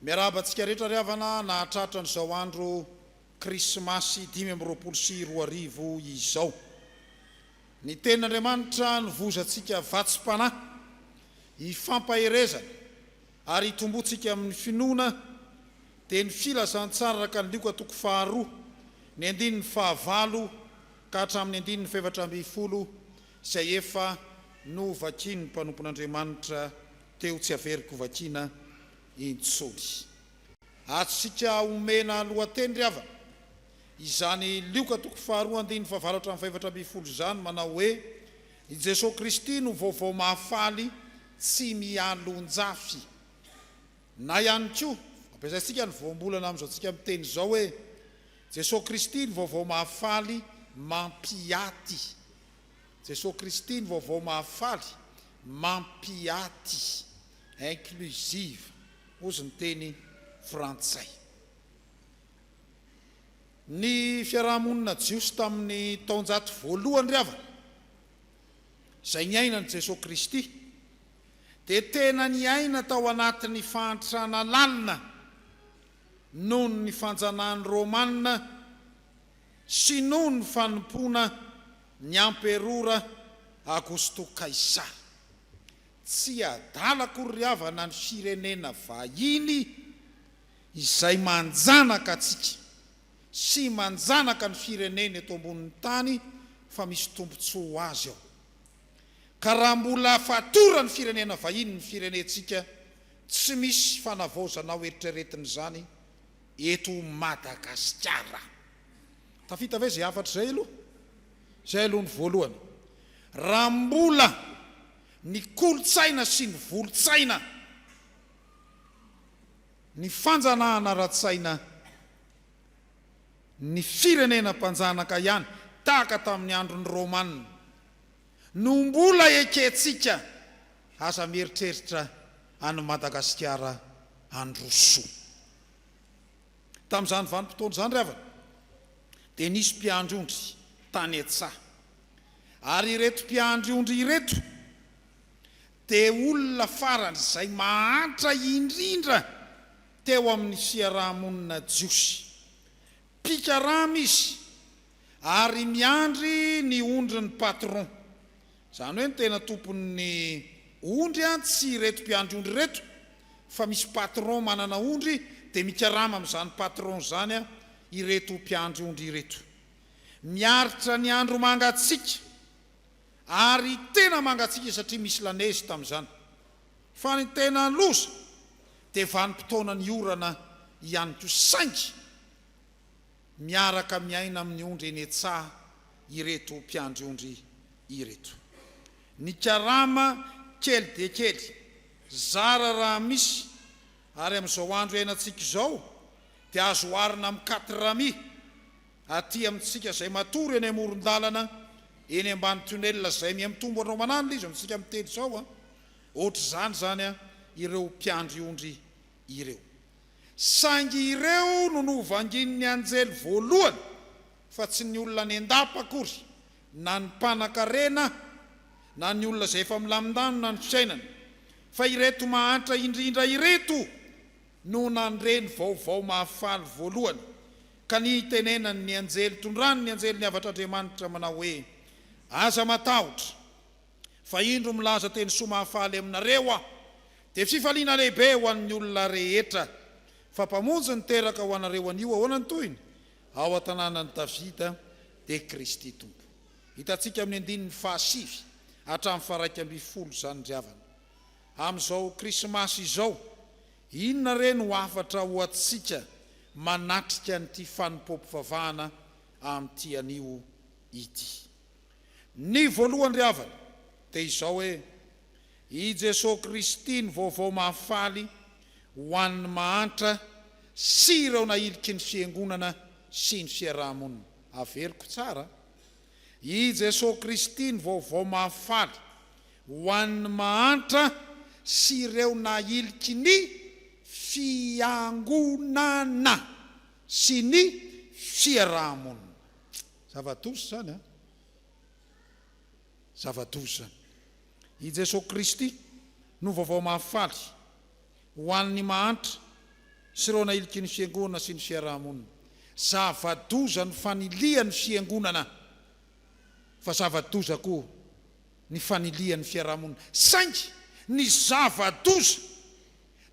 Miarahaba antsika rehetra ry havana nahatratra an'izao andro krismasy dimy amby roapolo sy roa arivo izao. Ny tenin'Andriamanitra novozantsika vatsim-panahy hifampaherezana Ary hitomboantsika amin'ny finoana dia ny filazantsara araka ny Lioka toko faharoa, ny andininy fahavalo ka hatramin'ny andininy fahefatra ambin'ny folo izay efa novakian'ny mpanompon'Andriamanitra teo tsy averiko vakiana intsony. Antsika omena lohateny ry havana izany Lioka toko faharoa andininy fahavalo hatramin'ny fahefatra ambin'ny folo izany manao hoe. I Jesoa Kristy no vaovao mahafaly tsy mialonjafy. Na ihany koa, ampiasaintsika ny voambolana amin'izao tsika miteny izao hoe, Jesoa Kristy ny vaovao mahafaly mampiaty. Jesoa Kristy ny vaovao mahafaly mampiaty, inclusive, ozy ny teny frantsay. Ny fiaraha-monina jiosy tamin' ny taonjato voalohany ry havana, izay niainan' i Jesoa Kristy, dia tena niaina tao anatin' ny fahantrana lalina noho ny fanjanahan' ny Rômana sy noho ny fanompoana ny Amperora Agosto Kaisara. Tsy adala akory ry havana ny firenena vahiny Izay manjanaka antsika sy manjanaka ny firenena eto ambonin'ny tany fa misy tombontsoa ho azy ao. Ka raha mbola fatoran'ny firenena vahiny ny firenentsika tsy misy fanavaozana ho eritreretina izany eto Madagasikara. Tafita ve izay hafatra izay aloha? Izay aloha ny voalohany. Raha mbola ny kolontsaina sy ny volotsaina. ny fanjanahana ara-tsaina ny firenena mpanjanaka ihany tahaka tamin'ny andron'ny Romana no mbola ekentsika aza mieritreritra an'i Madagasikara handroso. Tamin'izany vanim-potoana izany ry havana dia nisy mpiandry ondry tany an-tsaha ary ireto mpiandry ondry ireto Dia olona faran'izay mahantra indrindra teo amin'ny fiaraha-monina jiosy. Mpikarama izy ary miandry ny ondrin'ny patron. Izany hoe ny tena tompon'ny ondry tsy ireto mpiandry ondry ireto fa misy patron manana ondry dia mikarama amin'izany patron izany ireto mpiandry ondry ireto. Miaritra ny andro mangatsiaka. Ary tena mangatsiaka satria misy la neige tamin'izany. Fa ny tena loza dia vanim-potoanan'ny orana ihany koa saingy miaraka miaina amin'ny ondry eny an-tsaha ireto mpiandry ondry ireto. Ny karama kely dia kely, zara raha misy, ary amin'izao andro iainantsika izao dia azo oharina amin'ny quatre amis. Aty amintsika izay matory eny amoron-dalana eny ambany tunnel izay miha mitombo andro aman'alina izy amintsika miteny izao an! Ohatr'izany izany an ireo mpiandry ondry ireo. Saingy ireo no novanginin'ny anjely voalohany fa tsy ny olona any an-dapa akory na ny mpanan-karena na ny olona izay efa milamindanona ny fiainany fa ireto mahantra indrindra ireto no nandre ny vaovao mahafaly voalohany Ka nitenenany ny anjely tondrany ny anjely niavatr'Andriamanitra manao hoe, Aza matahotra, fa indro milaza teny soa mahafaly aminareo aho, dia fifaliana lehibe ho an'ny olona rehetra, fa Mpamonjy niteraka ho anareo anio ahoana ny tohiny? ao an-tanànan'i Davida, dia Kristy Tompo. Hitantsika amin'ny andininy fahasivy hatramin'ny faharaika ambin'ny folo izany ry havana. Amin'izao Krismasy izao. Inona re no hafatra ho antsika manatrika an'ity fanompoam-pivavahana amin'ity anio ity? Ny voalohany ry havana dia izao hoe, i Jesoa Kristy ny vaovao mahafaly ho an'ny mahantra sy ireo nahiliky ny Fiangonana sy ny fiaraha-monina. Averiko tsara. I Jesoa Kristy ny vaovao mahafaly ho an'ny mahantra sy ireo nahiliky ny Fiangonana sy ny fiaraha-monina. Zava-doza izany an! Zava-doza izany. I Jesoa Kristy no vaovao mahafaly Ho an'ny mahantra sy ireo nahiliky ny fiangonana sy ny fiaraha-monina, zava-doza ny fanilihan'ny fiangonana fa zava-doza koa ny fanilihan'ny fiaraha-monina. Saingy ny zava-doza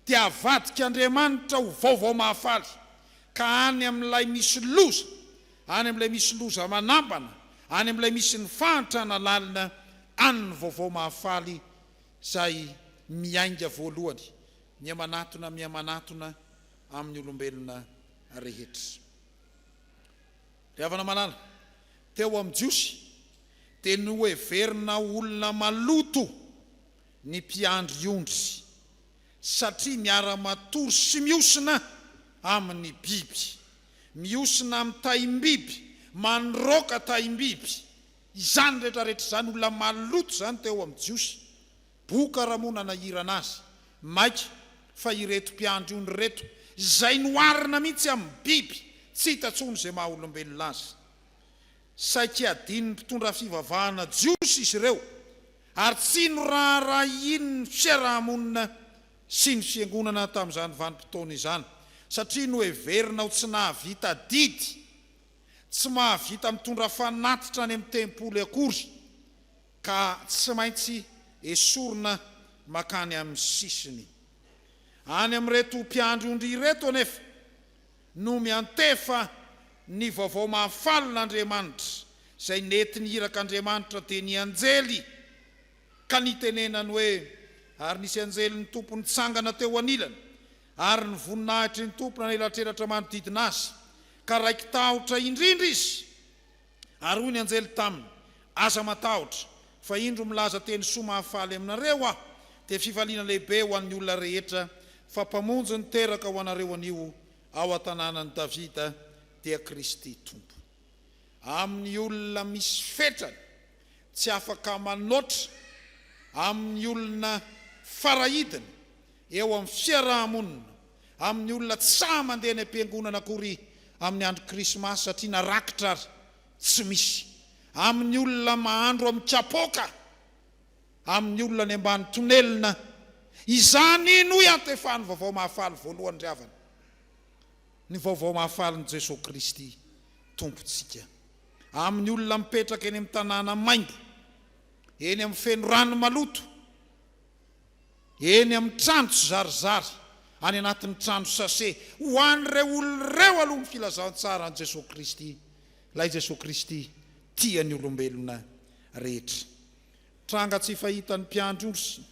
dia avadik'Andriamanitra ho vaovao mahafaly, ka any amin'ilay misy loza, any amin'ilay misy loza manambana, any amin'ilay misy ny fahantrana lalina, any ny vaovao mahafaly Izay miainga voalohany, mihamanatona mihamanatona amin'ny olombelona rehetra. Ry havana malala, teo amin'ny Jiosy dia noheverina ho olona maloto ny mpiandry ondry, satria miara-matory sy mihosina amin'ny biby, mihosina amin'ny taim-biby, manroaka taim-biby. Izany rehetra rehetra izany olona maloto izany teo amin'ny Jiosy. Boka raha moa nanahirana azy. Maika fa ireto mpiandry ony ireto izay noharina mihitsy amin'ny biby tsy hita intsony izay maha olombelona azy. Saiky adin'ny mpitondra fivavahana jiosy izy ireo ary tsy noraharahiany ny fiaraha-monina sy ny fiangonana tamin'izany vanim-potoana izany satria noheverina ho tsy nahavita adidy. tsy mahavita mitondra fanatitra any amin'ny tempoly akory ka tsy maintsy esorina mankany amin'ny sisiny. Any amin'ireto mpiandry ondry ireto anefa no miantefa ny vaovao mahafalin'Andriamanitra izay nety niraka Andriamanitra dia ny anjely ka nitenenany hoe, Ary nisy anjelin'ny Tompo nitsangana teo anilany ary ny voninahitry ny Tompo nanelatrelatra manodidina azy, ka raiki-tahotra indrindra izy. Ary hoy ny anjely taminy, Aza matahotra, fa indro milaza teny soa mahafaly aminareo aho, dia fifaliana lehibe ho an'ny olona rehetra, fa Mpamonjy niteraka ho anareo anio ao an-tanànan'i Davida, dia Kristy Tompo. Amin'ny olona misy fetrany. tsy afaka manoatra amin'ny olona farahidiny eo amin'ny fiaraha-monina, amin'ny olona tsy sahy mandeha any am-piangonana akory amin'ny andro krismasy satria na rakitra ary tsy misy, amin'ny olona mahandro amin'ny kapoaka, amin'ny olona any ambany tonelina izany iny hoy antefan'ny Vaovao Mahafaly voalohany ry havana, ny Vaovao Mahafalin'i Jesoa Kristy Tompontsika. amin'ny olona mipetraka eny amin'ny tanàna maimbo, eny amin'ny feno rano maloto, eny amin'ny trano tsy zarizary, any anatin'ny trano sase. Ho an'ireo olona ireo aloha ny filazantsaran'i Jesoa Kristy, ilay Jesoa Kristy tia ny olombelona rehetra. Tranga tsy fahitan'ny mpiandry ondry sy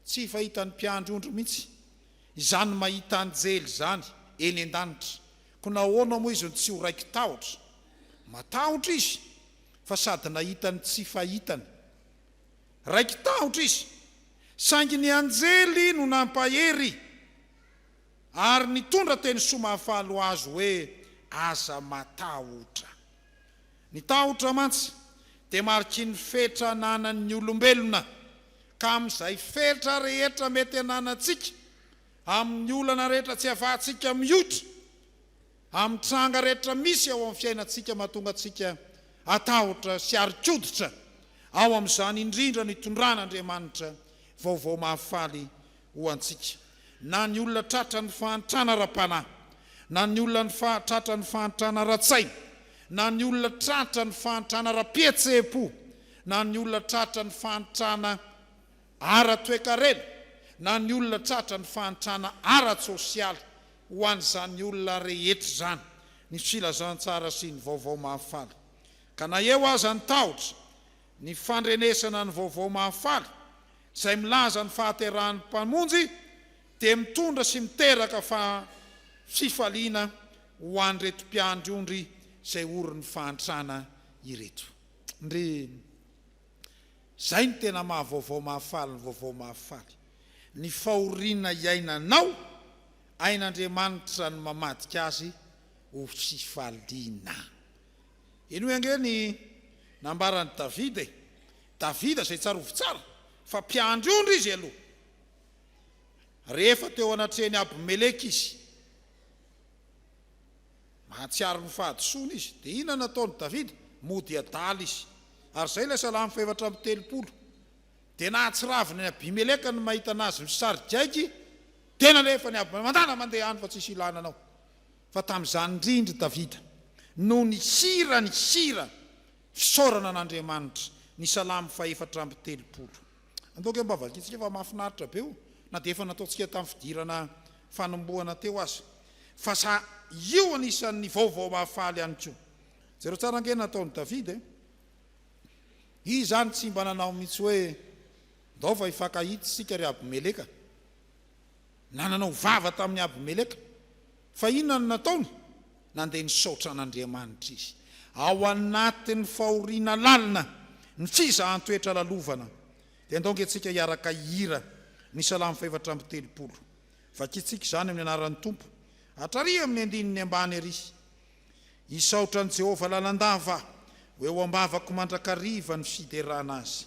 tsy fahitan'ny mpiandry ondry mihitsy izany mahita anjely izany eny an-danitra, Koa nahoana moa izy no tsy ho raiki-tahotra? Matahotra izy, fa sady nahita ny tsy fahitany. Raiki-tahotra izy, saingy ny anjely no nampahery ary nitondra teny soa mahafaly ho azy hoe, Aza matahotra. Ny tahotra mantsy dia mariky ny fetra ananan'ny olombelona, ka amin'izay fetra rehetra mety ananantsika, amin'ny olana rehetra tsy afahantsika mioitra, amin'ny tranga rehetra misy ao amin'ny fiainantsika mahatonga antsika hatahotra sy harin-koditra, ao amin'izany indrindra no itondran'Andriamanitra vaovao mahafaly ho antsika. Na ny olona tratran'ny fahantrana ara-panahy, na ny olona tratran'ny fahantrana ara-tsaina, na ny olona tratran'ny fahantrana ara-pihetseham-po, na ny olona tratran'ny fahantrana. ara-toekarena na ny olona tratra ny fahantrana ara-tsosialy ho an'izany olona rehetra izany ny filazantsara sy ny vaovao mahafaly. Ka na eo aza ny tahotra, ny fandrenesana ny vaovao mahafaly izay milaza ny fahaterahan'ny Mpamonjy dia mitondra sy miteraka fa fifaliana ho an'ireto mpiandry ondry izay orin'ny fahantrana ireto. Ndry. Izay no tena maha vaovao mahafaly ny vaovao mahafaly. Ny fahoriana iainanao, hain'Andriamanitra ny mamadika azy ho fifaliana. Henoy ange ny nambaran'i Davida e! Davida izay tsarovy tsara fa mpiandry ondry izy aloha. Rehefa teo anatrehan'i Abimeleka izy. Mahatsiaro ny fahadisoany izy. Dia inona no nataon'i Davida? Mody adala izy. Ary izay ilay Salamo fahefatra amby telopolo. Dia nahatsiravina an'i Abimeleka ny mahita anazy misarigaigy, dia nalefany aby, Mandala mandeha any fa tsisy ilana anao. Fa tamin'izany indrindra i Davida no nihira ny hira fisaorana an'Andriamanitra, ny Salamo fahefatra amby telopolo. Andao kay mba vakintsika fa mafinaritra be io na dia efa nataontsika tamin'ny fidirana fanombohana teo aza fa sa io anisan'ny vaovao mahafaly ihany koa. Jereo tsara ange nataon'i David e! Izy izany tsy mba nanao mihitsy hoe ndao fa hifankahita isika ry Abimeleka na nanao vava tamin'i Abimeleka Fa inona no nataony? Nandeha nisaotra an'Andriamanitra izy. Ao anatin'ny fahoriana lalina, ny fizahan-toetra lalovana, dia andao ange tsika hiaraka hihira ny Salamo fahefatra amby telopolo. Vakintsika izany amin'ny anaran'ny Tompo, hatrary amin'ny andininy ambany ery. Hisaotra an'i Jehovah lalandava aho, ho eo am-bavako mandrakariva ny fiderana azy.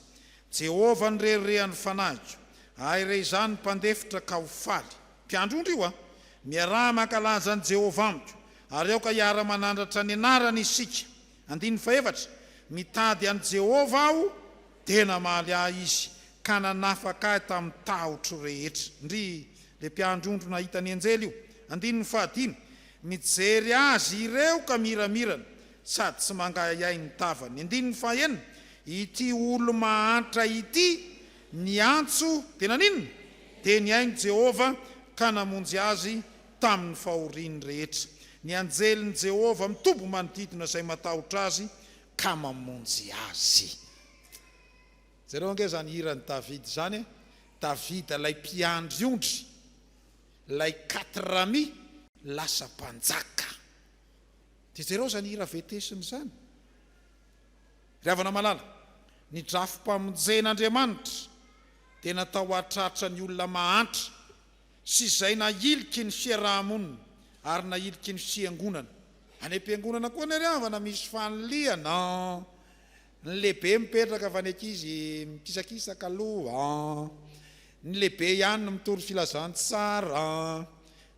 Jehovah no reharehan'ny fanahiko, ahy re izany mpandefitra ka ho faly. Mpiandry ondry io a! Miaraha mankalaza an'i Jehovah amiko, ary aoka hiara-manandratra ny anarany isika. Andininy fahefatra, Mitady an'i Jehovah aho, dia namaly ahy izy, ka nanafaka ahy tamin'ny tahotro rehetra. Ndry, ilay mpiandry ondry nahita ny anjely io. Andininy fahadimy, Mijery azy ireo ka miramirana sady tsy mangahiahy ny tavany. Andininy fahaenina, Ity olo-mahantra ity niantso, dia naninona? Dia nihaino Jehovah ka namonjy azy tamin'ny fahoriany rehetra. Ny anjelin'i Jehovah mitoby manodidina izay matahotra azy ka mamonjy azy. Jereo ange izany hiran'i Davida izany e! Davida ilay mpiandry ondry. Ilay quatre rami lasa mpanjaka. Dia jereo izany hira vetesina izany. Ry havana malala, ny drafi-pamonjen'Andriamanitra dia natao hahatratra ny olona mahantra sy izay nahiliky ny fiaraha-monina ary nahiliky ny fiangonana. Any am-piangonana koa anie ry havana misy fanilihana an! Ny lehibe mipetraka fa ny ankizy mikisakisaka aloha an! Ny lehibe ihany no mitory filazantsara an!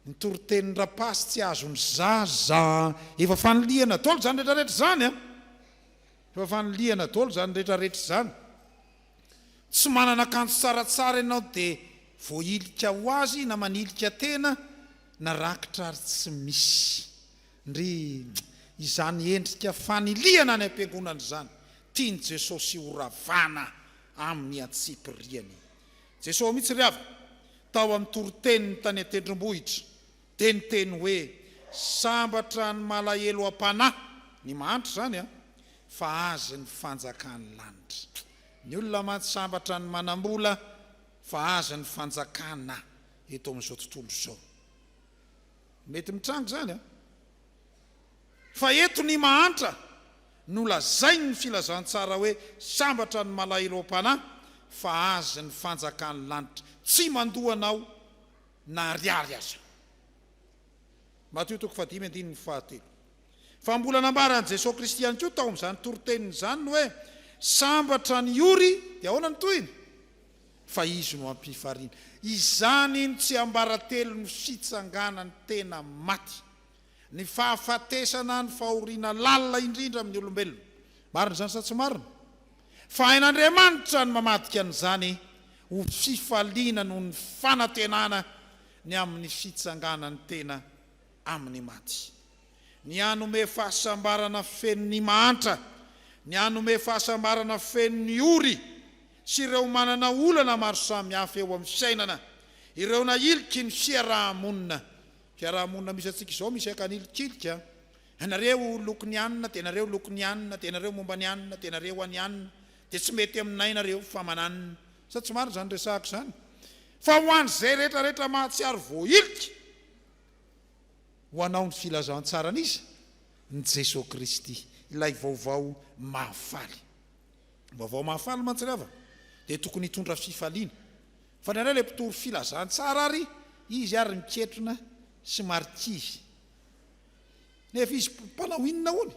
Ny toritenin rapasy tsy azon'ny zaza an! Efa fanilihana dolo zany rehetra rehetra zany an! Efa fanilihana dolo zany rehetra rehetra zany! Tsy manana akanjo tsara tsara ianao de voahilika ho azy na manilika tena na rakitra ary tsy misy! Ndry! Izany endrika fanilihana any am-piangonana izany tian'i Jesosy horavana amin'ny antsipiriany. Jesosy mihitsy ry havana, tao amin'ny toriteniny tany an-tendrombohitra, dia niteny hoe, Sambatra ny malahelo am-panahy, ny mahantra izany an, fa azy ny fanjakan'ny lanitra. Ny olona mantsy sambatra ny manam-bola, fa azy ny fanjakana eto amin'izao tontolo izao. Mety mitranga izany an! Fa eto ny mahantra no lazain' ny filazantsara hoe sambatra ny malahiram-panahy fa azy ny fanjakan' ny lanitra, tsy mandoa anao na ariary aza. Matio toko fahadimy andininy fahatelo. Fa mbola nambaran' i Jesoa Kristy ihany koa tao amin' izany toriteniny izany ny hoe sambatra ny ory, dia ahoana ny tohiny? fa izy no hampifarina. Izany no tsiambaratelon'ny fitsanganan'ny tena maty, ny fahafatesana, ny fahoriana lalina indrindra amin'ny olombelona. Marina izany sa tsy marina? Fa hain'Andriamanitra ny mamadika an'izany ho fifaliana noho ny fanantenana ny amin'ny fitsanganan'ny tena. amin'ny maty, ny hanome fahasambarana feno ny mahantra, ny hanome fahasambarana feno ny ory sy ireo manana olana maro samihafa eo amin'ny fiainana, ireo nahiliky ny fiaraha-monina. Fiaraha-monina misy antsika izao misy ankanilikiliky an! Ianareo loko ny anona dia ianareo loko ny anona dia ianareo momba ny anona dia ianareo any anona dia tsy mety aminay nareo fa mananona. Sa tsy marina izany resahako izany? Fa ho an'izay rehetrarehetra mahatsiaro voahiliky, ho anao ny filazantsaran' Izy, ny Jesoa Kristy, ilay vaovao mahafaly. Ny vaovao mahafaly mantsy ry havana dia tokony hitondra fifaliana. Fandrairay ilay mpitory filazantsara ary izy ary miketrona sy marikivy. Nefa izy mpanao inona hono?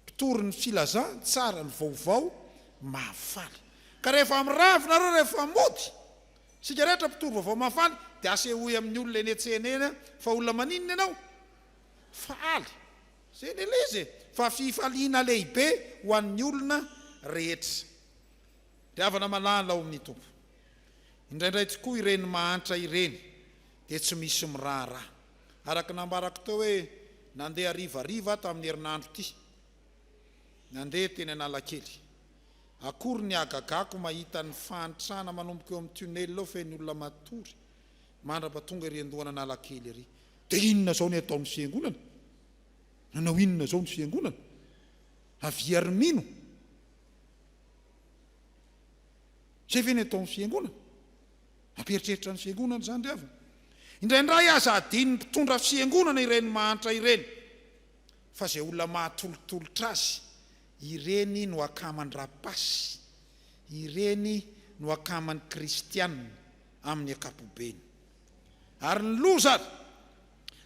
Mpitory ny filazantsara, ny vaovao mahafaly. Ka rehefa miravo nareo, rehefa mody, Isika rehetra mpitory vaovao mahafaly dia asehoy amin'ny olona eny an-tsena eny fa olona maninona ianao? Faly. Izay ilay ilay izy e! Fa fifaliana lehibe ho an'ny olona rehetra. Ry havana malala ao amin'ny Tompo, indraindray tokoa ireny mahantra ireny dia tsy misy miraharaha. Araka ny nambarako teo hoe nandeha harivariva aho tamin'ny herinandro ity, nandeha teny Analakely. Akory ny hagagako mahita ny fahantrana manomboka eo amin'ny tunnel ao feno olona matory mandrapa tonga ery andohan'Analakely ery. Dia inona izao ny ataon'ny fiangonana? Nanao inona izao ny fiangonana? Avia ry mino! Izay ve ny ataon'ny fiangonana? Mampieritreritra ny fiangonana izany ry havana. Indraindray aza adinon'ny mpitondra fiangonana ireny mahantra ireny fa izay olona mahatolotolotra azy Ireny no akaman-dRapasy, ireny no akaman'ny kristiana amin'ny ankapobeny. Ary ny loza ary,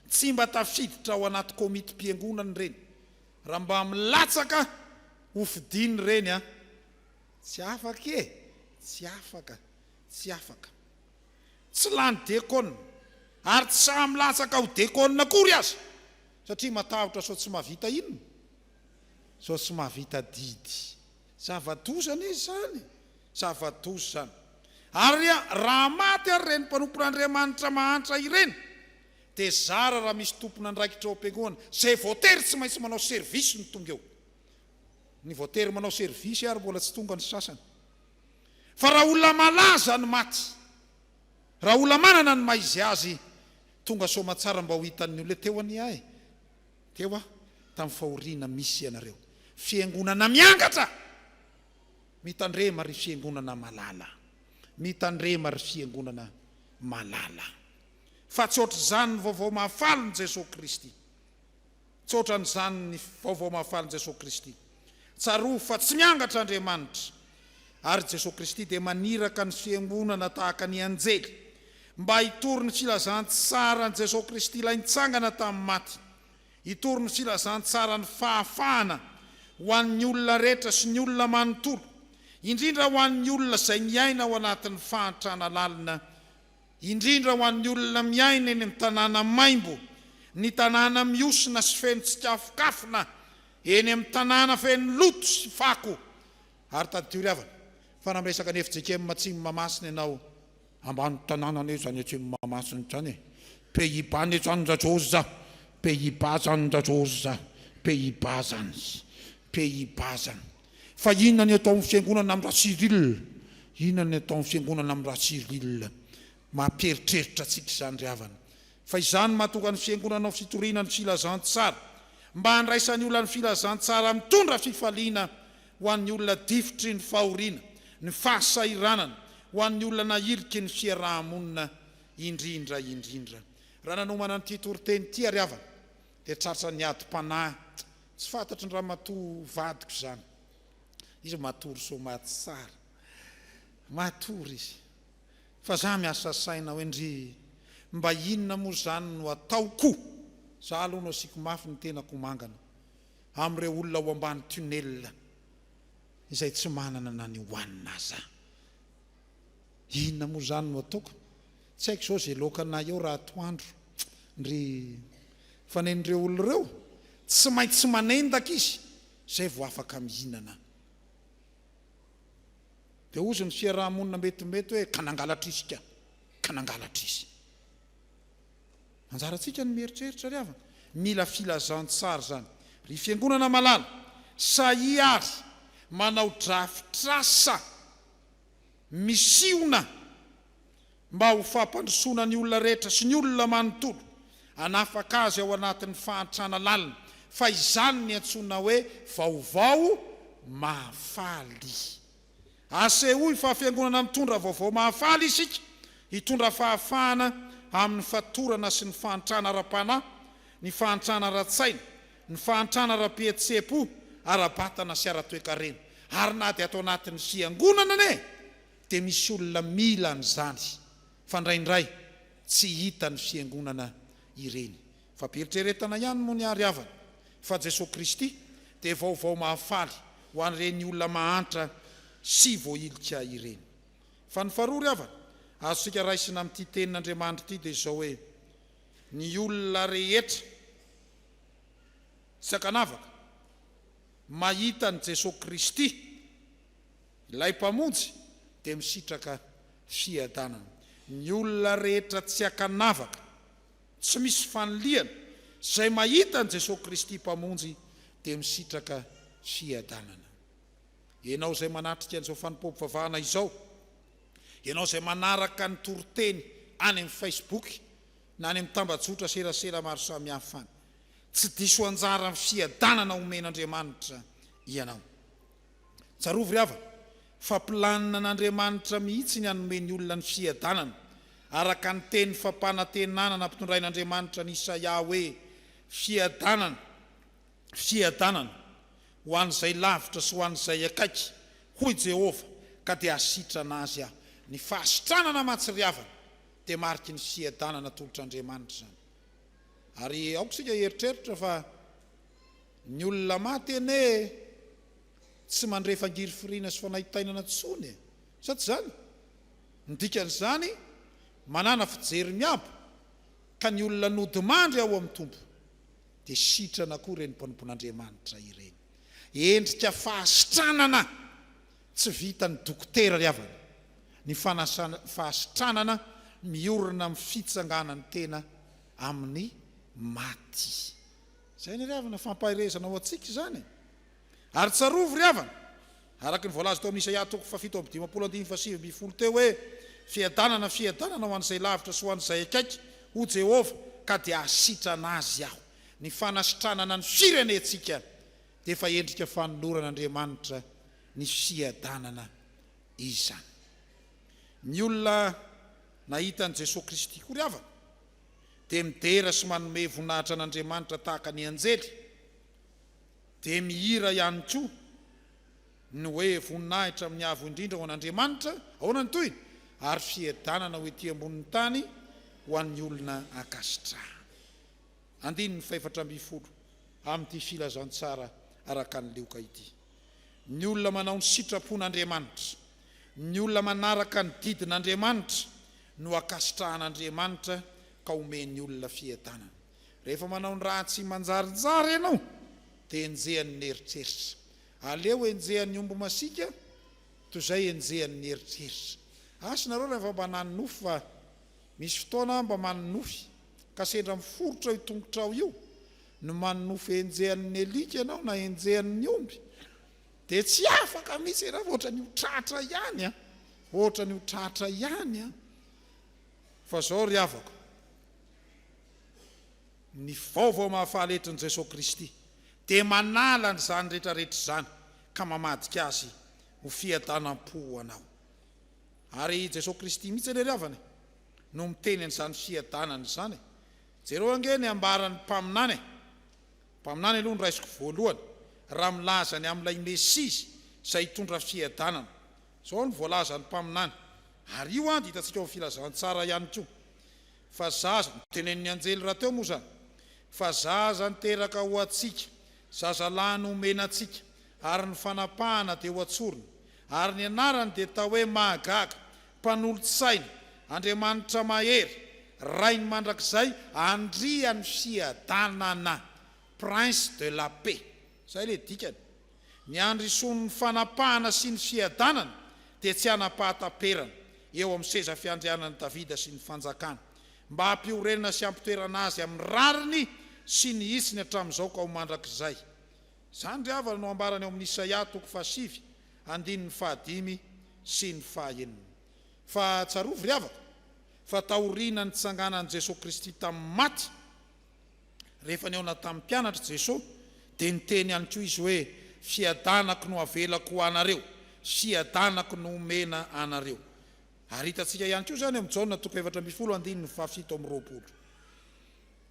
tsy mba tafiditra ao anaty komitim-piangonana ireny, raha mba milatsaka ho fidiny ireny an! Tsy afaka e! Tsy afaka! Tsy afaka! Tsy lany dekona, ary tsy sahy milatsaka ho dekona akory aza, satria matahotra sao tsy mahavita inona? Zao tsy mahavita didy. Zava-doza anie izany. Zava-doza izany. Ary raha maty ary ireny mpanompon'Andriamanitra mahantra ireny, dia zara raha misy tompon'andraikitra ao am-piangonana izay voatery tsy maintsy manao service no tonga eo. Ny voatery manao service ary mbola tsy tonga ny sasany. Fa raha olona malaza ny maty, raha olona manana ny maha izy azy, tonga soamantsara mba ho hitan'ny olona teo anie ahy. Teo aho tamin'ny fahoriana misy ianareo. Fiangonana miangatra! Mitandrema ry fiangonana malala! Mitandrema ry fiangonana malala! Fa tsy ohatr'izany ny Vaovao Mahafalin'i Jesoa Kristy. Tsy ohatran'izany ny Vaovao Mahafalin'i Jesoa Kristy. Tsarovy fa tsy miangatra Andriamanitra, ary Jesoa Kristy dia maniraka ny Fiangonana tahaka ny anjely mba hitory ny filazantsaran'i Jesoa Kristy Ilay nitsangana tamin'ny maty, hitory ny filazantsaran'ny fahafahana ho an'ny olona rehetra sy ny olona manontolo, indrindra ho an'ny olona izay miaina ao anatin'ny fahantrana lalina indrindra ho an'ny olona miaina eny amin'ny tanàna maimbo, ny tanàna mihosina sy feno tsikafokafona, eny amin'ny tanàna feno loto sy fako. Ary tadidio ry havana, fa raha miresaka an'i fjkm Atsimo Mahamasina ianao, ambany tanàna anie izany Atsimo Mahamasina izany e! Pays-Bas anie izany ndra Jôza, Pays-Bas izany ndra Jôza, Pays-Bas izany, Pays-Bas izany. Fa inona ny ataon'ny Fiangonana amin'ny Ratsiril? Inona ny ataon'ny Fiangonana amin'ny Ratsiril? Mampieritreritra antsika izany ry havana. Fa izany mahatonga ny Fiangonana ho fitoriana ny filazantsara. Mba handraisan'ny olona ny filazantsara mitondra fifaliana ho an'ny olona difotry ny fahoriana, ny fahasahiranana, ho an'ny olona nahiliky ny fiaraha-monina indrindra indrindra. Raha nanomana an'ity toriteny ity ary havana dia tratran'ny adim-panahy Tsy fantatry ny ramatoa vadiko izany. Izy matory somaty tsara. Matory izy. Fa za miasa saina hoe ndry mba inona moa izany no ataoko? Za aloha no asiako mafy ny tenako ho mangana amin'ireo olona ao ambany tunnel izay tsy manana na ny hohanina aza. Inona moa zany no ataoko? Tsy haiko zao ze loaka anay eo raha atoandro ndry fa nen'ireo olona ireo tsy maintsy manendaka izy zay vao afaka mihinana. De ozy ny fiaraha-monina mety mety hoe ka nangalatra izy ka, ka nangalatra izy. Anjarantsika ny mieritreritra ry havana. Mila filazantsara zany ry fiangonana malala, sahia ary manao drafitr'asa. Misihona mba ho fampandrosoana ny olona rehetra sy ny olona manontolo, hanafaka azy ao anatin'ny fahantrana lalina, fa izany ny antsoina hoe vaovao mahafaly. Asehoy fa Fiangonana mitondra vaovao mahafaly isika, hitondra fahafahana amin'ny fatorana sy ny fahantrana ara-panahy, ny fahantrana ara-tsaina, ny fahantrana ara-pihetseham-po, ara-batana sy ara-toekarena, ary na dia ato anatin'ny Fiangonana anie dia misy olona mila an'izany fa indraindray tsy hitan'ny Fiangonana ireny. Fa be eritreretana ihany moa ny ahy ry havana fa Jesoa Kristy dia vaovao mahafaly ho an'ireny olona mahantra sy voahilika ireny. Fa ny faharoa ry havana azontsika raisina amin'ity tenin'Andriamanitra ity dia izao hoe, Ny olona rehetra. Sakanavaka, mahita an'i Jesoa Kristy, ilay Mpamonjy, dia misitraka fiadanana. Ny olona rehetra tsy ankanavaka, tsy misy fanilihana, izay mahita an'i Jesoa Kristy Mpamonjy dia misitraka fiadanana. Ianao izay manatrika an'izao fanompoam-pivavahana izao, ianao izay manaraka ny toriteny any amin'ny Facebook, na any amin'ny tambajotra serasera maro samihafa any. Tsy diso anjara amin'ny fiadanana omen'Andriamanitra ianao. Tsarovy ry havana fa planin'Andriamanitra mihitsy ny hanome ny olona ny fiadanana, araka ny teny fampanantenana nampitondrain'Andriamanitra an'i Isaia hoe, Fiadanana, fiadanana, ho an'izay lavitra sy ho an'izay akaiky, hoy Jehovah, ka dia hasitrana azy Aho. Ny fahasitranana mantsy ry havana dia mariky ny fiadanana atolotr'Andriamanitra izany. Ary aoka isika hieritreritra fa ny olona maty anie tsy mandre fangirifiriana sy fanaintainana intsony e! Sa tsy izany? Ny dikan'izany, manàna fijery miabo ka ny olona nodimandry ao amin'ny Tompo dia sitrana koa ireny mpanompon'Andriamanitra ireny. Endrika fahasitranana! Tsy vitan'ny dokotera ry havana ny fanasana fahasitranana miorina amin'ny fitsanganan'ny tena amin'ny maty. Izay anie ry havana, fampaherezana ho antsika izany e! Ary tsarovy ry havana, araka ny voalaza tao amin'ny Isaia toko fahafito amby dimampolo andininy fahasivy ambin'ny folo teo hoe, Fiadanana, fiadanana ho an'izay lavitra sy ho an'izay akaiky, hoy Jehovah, ka dia hahasitrana azy Aho. Ny fanasitranana ny firenentsika. dia efa endrika fanoloran'Andriamanitra ny fiadanana izany. Ny olona nahita an'i Jesoa Kristy koa ry havana dia midera sy manome voninahitra an'Andriamanitra tahaka ny anjely, dia mihira ihany koa ny hoe voninahitra amin'ny Avo Indrindra ho an'Andriamanitra, ahoana ny tohiny? ary fiadanana ho ety ambonin'ny tany ho an'ny olona ankasitrahany. Andininy fahefatra ambin'ny folo amin'ity filazantsara araka an'i Lioka ity. Ny olona manao ny sitrapon'Andriamanitra, ny olona manaraka ny didin'Andriamanitra no ankasitrahan'Andriamanitra ka omen'ny olona fiadanana. Rehefa manao ny ratsy manjarinjary ianao dia enjehan'ny eritreritra. Aleo enjehan'ny omby masiaka toy izay enjehan'ny eritreritra. Asa nareo raha efa mba nanonofy fa Misy fotoana aho mba manonofy ka sendra miforitra io tongotrao io ny manonofy henjehan'ny alika ianao na henjehan'ny omby dia tsy afaka mihitsy ianao fa ohatran'ny ho tratra ihany an! ohatran'ny ho tratra ihany an! fa izao ry havako ny vaovao mahafaly etrin'i Jesoa Kristy dia manala an'izany rehetra rehetra izany ka mamadika azy ho fiadanam-po ho anao. Ary i Jesoa Kristy mihitsy anie ry havana e, no miteny an'izany fiadanana izany e. Jereo ange ny ambaran'ny mpaminany e. Mpaminany aloha no raisiko voalohany, raha milaza ny amin'ilay Mesia izy izay hitondra fiadanana. Izao no voalazan'ny mpaminany, ary io dia hitantsika ao amin'ny Filazantsara ihany koa, Fa zaza, notenenin'ny anjely rahateo moa izany, Fa zaza niteraka ho antsika, zazalahy nomena antsika, ary ny fanapahana dia ho an-tsorony, Ary ny anarany dia atao hoe Mahagaga, Mpanolotsaina, Andriamanitra Mahery, Rain'ny Mandrakizay, Andrian'ny Fiadanana, Prince de la Paix. Izay ilay dikany. Ny andrisoan'ny fanapahana sy ny fiadanana dia tsy hanam-pahataperana eo amin'ny seza fiandrianan'i Davida sy ny fanjakany, mba hampiorenana sy hampitoerana azy amin'ny rariny sy ny hitsiny hatramin'izao ka ho mandrakizay. Izany ry havana no ambarany ao amin'ny Isaia toko fahasivy andininy fahadimy sy ny fahaenina. Fa tsarovy ry havako fa taoriana nitsanganan'i Jesoa Kristy tamin'ny maty, rehefa nihaona tamin'ny mpianatry Jesoa dia niteny ihany koa Izy hoe, Fiadanako no avelako ho anareo, fiadanako no omena anareo. Ary hitantsika ihany koa izany ao amin'ny Jaona toko efatra ambin'ny folo andininy fahafito amby roapolo.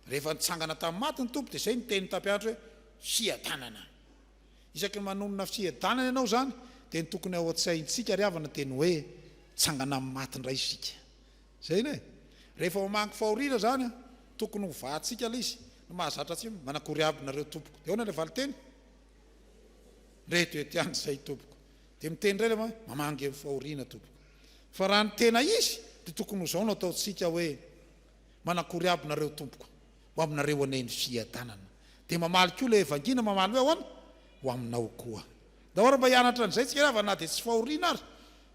Rehefa nitsangana tamin'ny maty ny Tompo dia izay no tenin'i Tapiandro hoe, Fiadanana. Isaky ny manonona fiadanana ianao izany dia ny tokony ao an-tsaintsika ry havana dia ny hoe hitsangana amin'ny maty indray isika. Izay anie e! Rehefa homangy fahoriana izany an, tokony ho vahantsika ilay izy. Ny mahazatra tsy manakory aby nareo tompoko. Dia ahoana ilay valinteny? Ndre to eto ihany izay tompoko. Dia miteny indray ilay ma, mamangy amin'ny fahoriana tompoko. Fa raha ny tena izy dia tokony ho izao no ataontsika hoe, Manakory aby nareo tompoko ho aminareo anie ny fiadanana de mamaly koa ilay evangina mamaly hoe ahoana ho aminao koa daholo mba hianatra an'izay tsika ravana na dia tsy fahoriana ary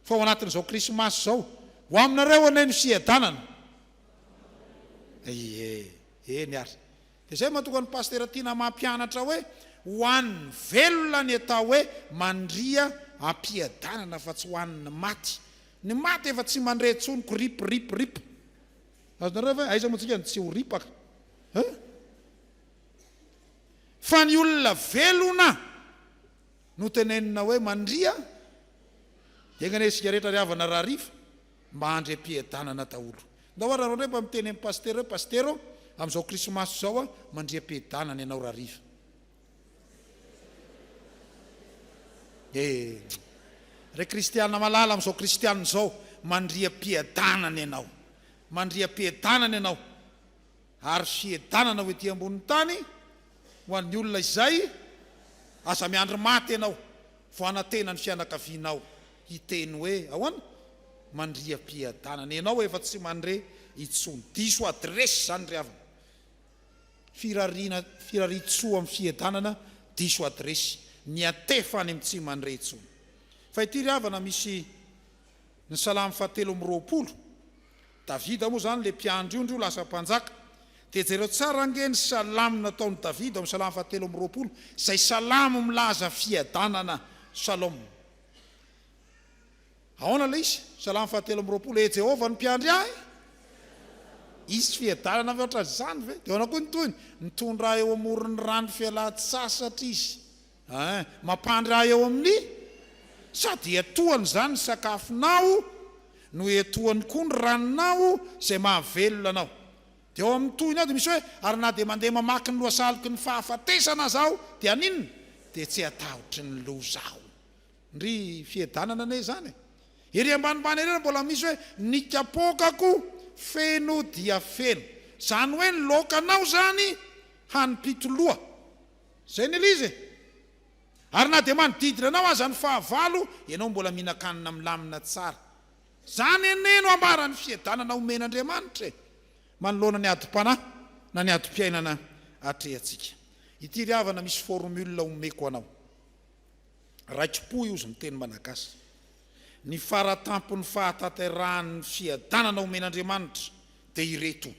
fa ao anatin'izao krismasy izao ho aminareo anie ny fiadanana ie eny ary de zay matoka ny pastera tiana mampianatra hoe ho an'ny velona ny atao hoe mandria ampiadanana fa tsy ho an'ny maty ny maty efa tsy mandre tsony ko rip rip rip Azonareo ve? Aiza moa tsika no tsy ho ripaka e? Fa ny olona velona no tenenina hoe mandria, dia enga anie isika rehetra ry havana raha rifa mba handry am-piadanana daholo. Ndao ary raha mba miteny amin'ny pasitera hoe, Pasitera ô, amin'izao krismasy izao mandria am-piadanana ianao raha rifa. Eh! Ry kristiana malala amin'izao kristiana izao, mandria am-piadanana ianao, mandria am-piadanana ianao, ary fiadanana ho ety ambonin'ny tany ho an'ny olona izay, aza miandry maty ianao vao hanantena ny fianakavianao hiteny hoe ahoana? Mandria am-piadanana ianao efa tsy mandre intsony, diso adiresy izany ry havana. Firariana Firariantsoa amin'ny fiedanana diso adiresy ny atefa any amin'ny tsy mandre intsony fa ity ry havana misy ny salamo faha telo amby roapolo Davida moa izany ilay mpiandry ondry io lasa mpanjaka dia jereo tsara ange ny salamo nataon'i Davida ao amin'ny salamo faha telo amby roapolo izay salamo milaza fiadanana Salom Ahoana ilay izy? Salamo fahatelo amby roapolo, E Jehovah no mpiandry ahy, hisy fiadanana avy eo hatramin'izany ve? Dia ahoana koa ny tohiny? Mitondra ahy eo amoron'ny rano fialan-tsasatra izy, Ein, mampandry ahy eo amin'ny Sady hiatohany izany ny sakafonao no hiatohany koa ny ranonao izay mahavelona anao. Dia ao amin'ny tohiny ao dia misy hoe, Ary na dia mandeha mamaky ny lohasalok'ny fahafatesana aza aho, dia haninona? Dia tsy hatahotry ny loza aho. Ndry fiedanana anie izany e! Ery ambanimbany ery ary mbola misy hoe ny kapokako feno dia feno. Izany hoe ny laokanao izany hanimpito loha. Izay ny elizy e! Ary na dia manodidina anao aza ny fahavalo, ianao mbola mihinan-kanina milamina tsara. Izany anie no ambaran'ny fiedanana omen'Andriamanitra e! Manoloana ny adim-panahy na ny adim-piainana atrehantsika. Ity ry havana misy formule omeko anao. Raikipo io zny teny malagasy. Ny faratampon'ny fahatanterahan'ny fiadanana omen'Andriamanitra dia ireto.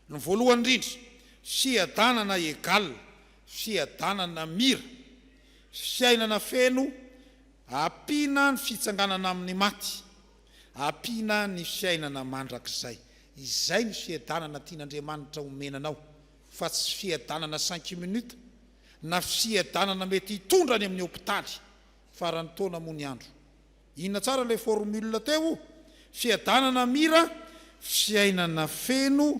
Ny voalohany indrindra, fiadanana egal, fiadanana mira, fiainana feno ampiana ny fitsanganana amin'ny maty, ampiana ny fiainana mandrakizay. Izay ny fiadanana tian'Andriamanitra omena anao fa tsy fiadanana cinq minutes na fisiadanana mety hitondra any amin'ny hopitaly faran'ny taona moa ny andro. Inona tsara ilay formule teo o? Fiadanana mira, fiainana feno,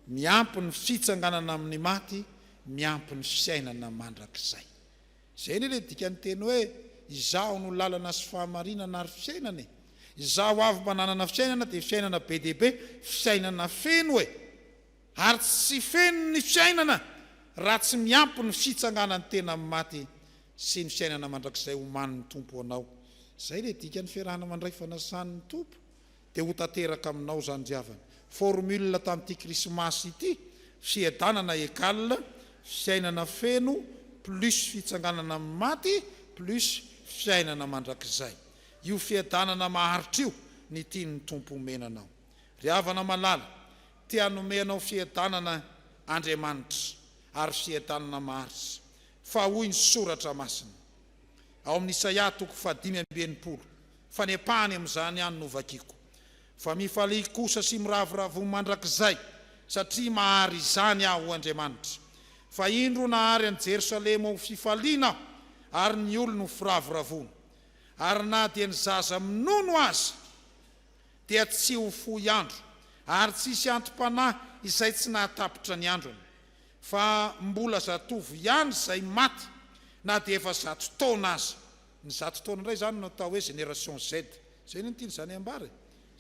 miampy ny fitsanganana amin'ny maty, miampy ny fiainana mandrakizay. Izay anie ilay dikan'ny teny hoe Izaho no lalana sy fahamarinana ary fiainana e! Izaho avy mananana fiainana dia fiainana be dia be, fiainana feno e! Ary tsy feno ny fiainana raha tsy miampy ny fitsanganan'ny tena amin'ny maty sy ny fiainana mandrakizay omanin'ny Tompo ho anao. Izay ilay dikan'ny fiarahana mandray fanasan'ny Tompo dia ho tanteraka aminao izany ry havana. Formule tamin'ity krismasy ity, Fiadanana égale fiainana feno plus fitsanganana amin'ny maty plus fiainana mandrakizay. Io fiadanana maharitra io ny tian'ny Tompo omena anao. Ry havana malala, te hanome anao fiadanana Andriamanitra ary fiadanana maharitra. Fa hoy ny Soratra Masina ao amin'ny Isaia toko fahadimy amby enimpolo, fanepahany amin'izany ihany no vakiako, Fa mifalia kosa sy miravoravo ho mandrakizay, satria mahary izany Aho ho Andriamanitra. Fa indro nahary an'i Jerosalema ho fifaliana Aho, ary ny olony ho firavoravoana. Ary na dia ny zaza minono aza. dia tsy ho fohy andro, ary tsy hisy anti-panahy izay tsy nahatapitra ny androny, fa mbola zatovo ihany izay maty na dia efa zato taona aza. Ny zato taona indray izany no atao hoe Génération Z. Izay no tiany izany hambara e.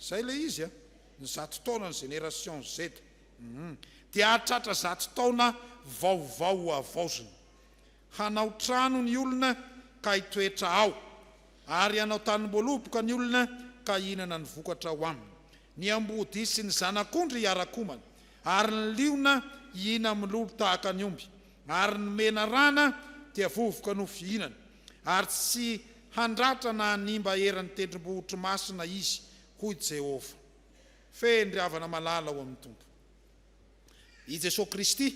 Izay ilay izy an. Ny zato taona ny Génération Z. Dia hahatratra zato taona vaovao havaozina. Hanao trano ny olona ka hitoetra ao, ary hanao tanimboaloboka ny olona ka hihinana ny vokatra ao aminy. Ny amboadia sy ny zanak'ondry hiara-komana, ary ny liona hihina milolo tahaka ny omby, ary ny menarana dia vovoka no fihinany. Ary tsy handratra na hanimba eran'ny tendrombohitro masina izy, hoy Jehovah. Fehiny ry havana malala ao amin'ny Tompo. I Jesoa Kristy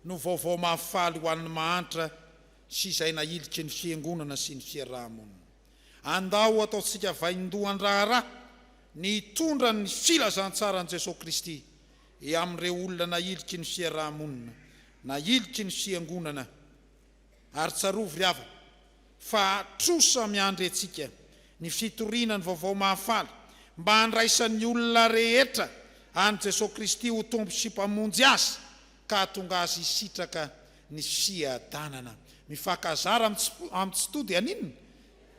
no vaovao mahafaly ho an'ny mahantra sy izay nahiliky ny Fiangonana sy ny fiaraha-monina. Andao ataontsika vaindohan-draharaha ny hitondra ny filazantsaran'i Jesoa Kristy eo amin'ireo olona nahiliky ny fiaraha-monina, nahiliky ny Fiangonana, Ary tsarovy ry havana, fa trosa miandry antsika ny fitoriana ny Vaovao Mahafaly mba handraisan'ny olona rehetra an'i Jesoa Kristy ho Tompo sy Mpamonjy azy ka hahatonga azy hisitraka ny fiadanana. Mifankazara amin'ny tsy to dia haninona?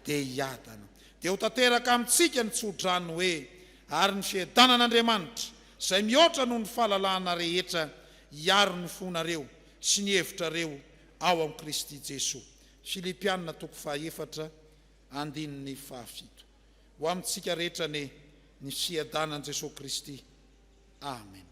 Dia hiadana. Dia ho tanteraka amintsika ny tsodrano hoe, Ary ny fiadanan'Andriamanitra, izay mihoatra noho ny fahalalahana rehetra, hiaro ny fonareo sy ny hevitrareo, ao amin'i Kristy Jesoa. Filipiana toko fahaefatra andininy fahafito. Ho amintsika rehetra anie ny fiadanan'i Jesoa Kristy. Amen.